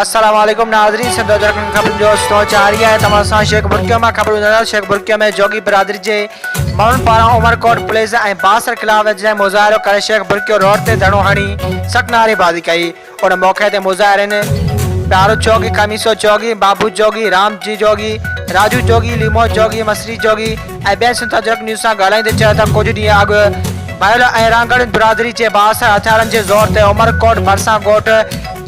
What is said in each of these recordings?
السلام عليڪم ناظرين سنڌ اجرڪ ۾ خبرن جو سلسلو جاري آهي توهان سان شيخ برڪيو مان خبرون ٻڌنداسين شيخ برڪيو ۾ جوڳي برادري جي ماڻهن پاران عمر ڪوٽ پليز ۽ باسر خلاف اجرائي مظاهرو ڪري شيخ برڪيو روڊ تي ڌرڻو هڻي سخت نعري بازي ڪئي ان موقعي تي مظاهرين پيارو جوڳي، خميسو جوڳي، بابو جوڳي، رام جي جوڳي، راجو جوڳي، ليمو جوڳي، مصري جوڳي ۽ ٻين سنڌ اجرڪ نيوز سان ڳالهائيندي چيو ته ڪجهه ڏينهن اڳ ڀيل ۽ رانگڙين برادري جي بااثر هٿيارن جي زور تي عمرڪوٽ ڀرسان ڳوٺ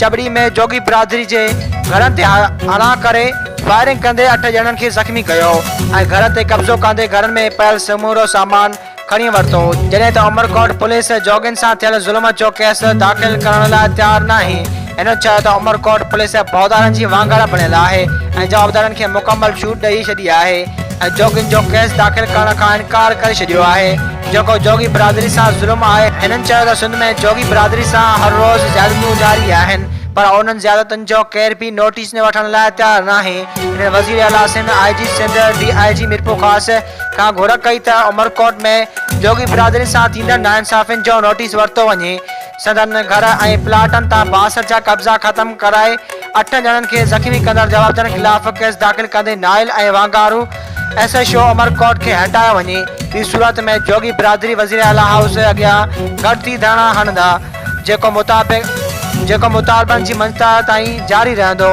چٻڙي ۾ جوڳي برادري جي گهرن تي حنا ڪري فائرنگ ڪندي اٺ ڄڻن کي زخمي ڪيو ۽ گهر تي قبضو ڪندي گهرن ۾ پيل سمورو سامان کڻي ورتو، جڏهن ته عمرڪوٽ پوليس جوڳين سان ٿيل ظلم جو ڪيس داخل ڪرڻ لاء تيار ناهي، هن چيو ته عمرڪوٽ پوليس ڀوتارن جي وانگر بڻيل آهي ۽ جوابدارن کي مڪمل ڇوٽ ڏئي ڇڏي آهي ۽ جوڳين جو ڪيس داخل ڪرڻ کان انڪار ڪري ڇڏيو آهي، جيڪو جوڳي برادري سان ظلم آهي، هنن چيو ته سنڌ ۾ جوڳي برادري سان هر روز زيادتيون جاري آهن پر انهن زيادتين جو ڪير به نوٽيس وٺڻ لاء تيار ناهي، هنن وزير اعليٰ سنڌ، آء جي سنڌ، ڊي آء جي ميرپورخاص، کان گهر ڪئي ته عمرڪوٽ ۾ جوڳي برادري سان ٿيندڙ ناانصافين جو نوٽيس ورتو وڃي، سندن گهر ۽ پلاٽن تان باسر جا قبضا ختم ڪرائي اٺ ڄڻن کي زخمي ڪندڙ جوابدارن خلاف ڪيس داخل ڪندي نائل ۽ وانگارو ايس ايڇ او عمرڪوٽ کي هٽايو وڃي، ٻي صورت ۾ جوڳي برادري وزير اعليٰ هائوس اڳيان گڏ ٿي ڌرڻا هڻندا، جيڪو مطابق جيڪو مطالبن جي منجهتائي تائين جاري رهندو.